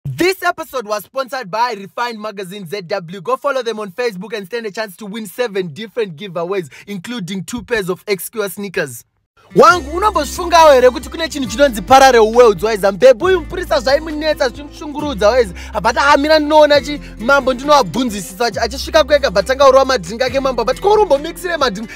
This episode was sponsored by Refined Magazine ZW. Go follow them on Facebook and stand a chance to win seven different giveaways, including two pairs of XQR sneakers. wangu unombofungawo here kuti kune chinhu chinonzi parallel worlds waiza mbebhu uyu mupurisa zvaimunetsa zvichimushungurudza waiza abata hamira ndinoona chi mambo ndinoabvunzisisa achisvika kwega batanga urova madrink ake mambo abati ko urumbomixire madrink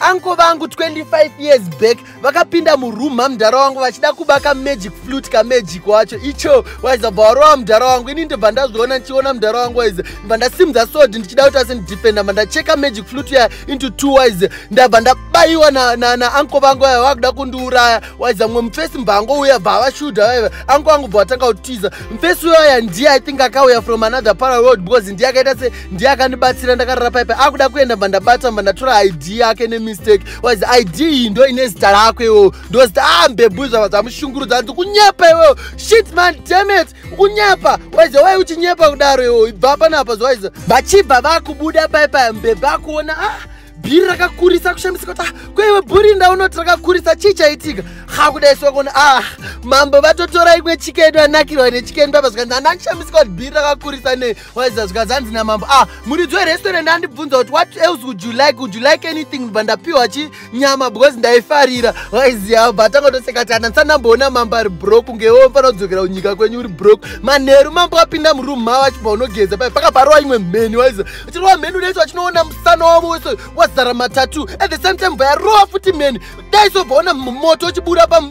anko vangu 25 years back vakapinda muroom mamudhara wangu vachida kuba kamagic flute kamagic wacho icho waiza bva warova mudhara wangu ini ndibva ndazviona ndichiona mudhara wangu waiza ndibva ndasimudza sod ndichida kuti asindidefenda bva ndacheka magic flute ya into two wise ndabva ndabayiwa naanko vangu vaya vakuda kundiuraya waiza mumwe mufesi mbva angouya bva avashuda vaiva anko vangu bva vatanga kutiza mufesi uyaya ndiye i think akauya from another pararoad because ndiye akaita ndiye akandibatsira ndakarara paipa akuda kuenda mba ndabata mba ndatora id yake nemistake was id iyi ndo ine zita rako iwewo ndozita a ah, mbebhu zvava zvamushungurudza anzi kunyepa iwewo shit man damet kunyepa waize wai uchinyepa kudaro iwewo ibva panapa zvawaiza vachibva vakubuda paipa mbebhu akuona ah bhiri rakakurisa kushamisika kuti ah, kweiwe bhuri ndaunoti rakakurisa chii chaitika ha kudai sokona ah mambo vatotora imwe chikedu anakirwa nechikedu papa zvikanzi andandishamisika kuti bhiri rakakurisa nei waiza zvikanzi hanzi namambo ah muridzi werestaurant andibvunza kuti what else would you like would you like anything bva ndapiwa chi nyama because ndaifarira waiziva bva tangotoseka ti ana ndisanamboona mambo ari brok kungewo mfanira kudzokera kunyika kwenyu uri brok manheru mambo apinda muroom mavo achibva unogeza pai pakaparwa imwe mheni waiza tirova mheni udaisi vachinoona musana wavo wese wazara matatu at the same time vayarova futi mheni daiso vaona moto uchibura pa